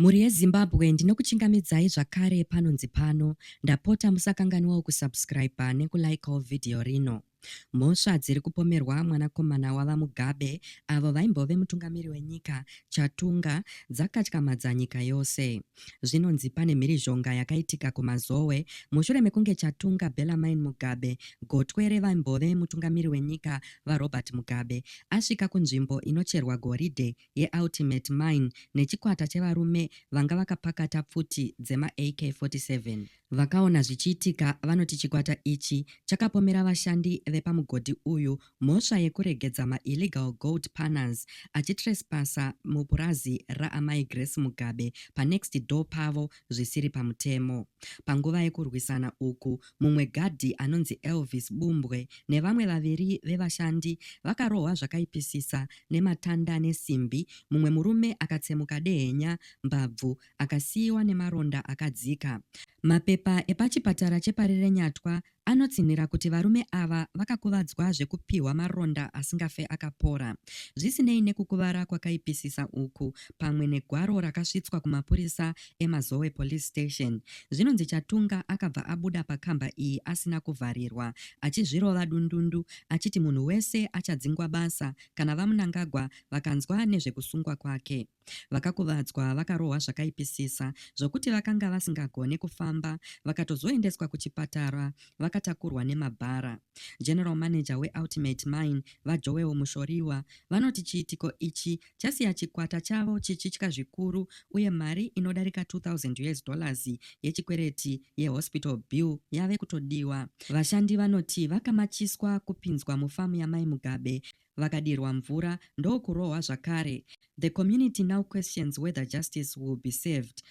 Mhuri yeZimbabwe ndinokuchingamidzai zvakare panonzi pano, ndapota musakanganwawo kusubscriber nekulikeawo video rino. Mhosva dziri kupomerwa mwanakomana waVaMugabe, avo vaimbove mutungamiri wenyika, Chatunga, dzakatyamadza nyika yose. Zvinonzi pane mhirizhonga yakaitika kuMazowe mushure mekunge Chatunga Bellarmine Mugabe, gotwe revaimbove mutungamiri wenyika, VaRobert Mugabe, asvika kunzvimbo inocherwa goridhe yeUltimate Mine nechikwata chevarume vanga vakapakata pfuti dzemaAK-47. Vakaona zvichiitika vanoti chikwata ichi chakapomera vashandi vepamugodhi uyu mhosva yekuregedza maillegal gold panners achitrespaser mupurazi raAmai Grace Mugabe panext door pavo zvisiri pamutemo. Panguva yekurwisana uku, Mumwe gadhi anonzi Elvis Bumbwe nevamwe vaviri vevashandi vakarohwa zvakaipisisa nematanda nesimbi, mumwe murume akatsemuka dehenya, mbabvu, akasiiwa nemaronda akadzika. Mapepa epachipatara cheParirenyatwa anotsinhira kuti varume ava vakakuvadzwa zvekupihwa maronda asingafe akapora. Zvisinei nekukuvara kwakaipisisa uku, pamwe negwaro rakasvitswa kumapurisa eMazowe Police Station. Zvinonzi Chatunga akabva abuda pakamba iyi asina kuvharirwa achizvirova dundundu achiti munhu wese achadzingwa basa kana VaMnangagwa vakanzwa nezvekusungwa kwake. Vakakuvadzwa vakarohwa zvakaipisisa zvokuti vakanga vasingagone kufamba vakatozoendeswa kuchipatara vakatakurwa nemabhara. General Manager weUltimate Mine, VaJoel Mushoriwa, vanoti chiitiko ichi chasiya chikwata chavo chichitya zvikuru uye mari inodarika 2000 us dollars yechikwereti yehospital bill yave kutodiwa. Vashandi vanoti vakamachiswa kupinzwa mufamu yamai Mugabe vakadirwa mvura ndokurohwa zvakare. The community now questions whether justice will be served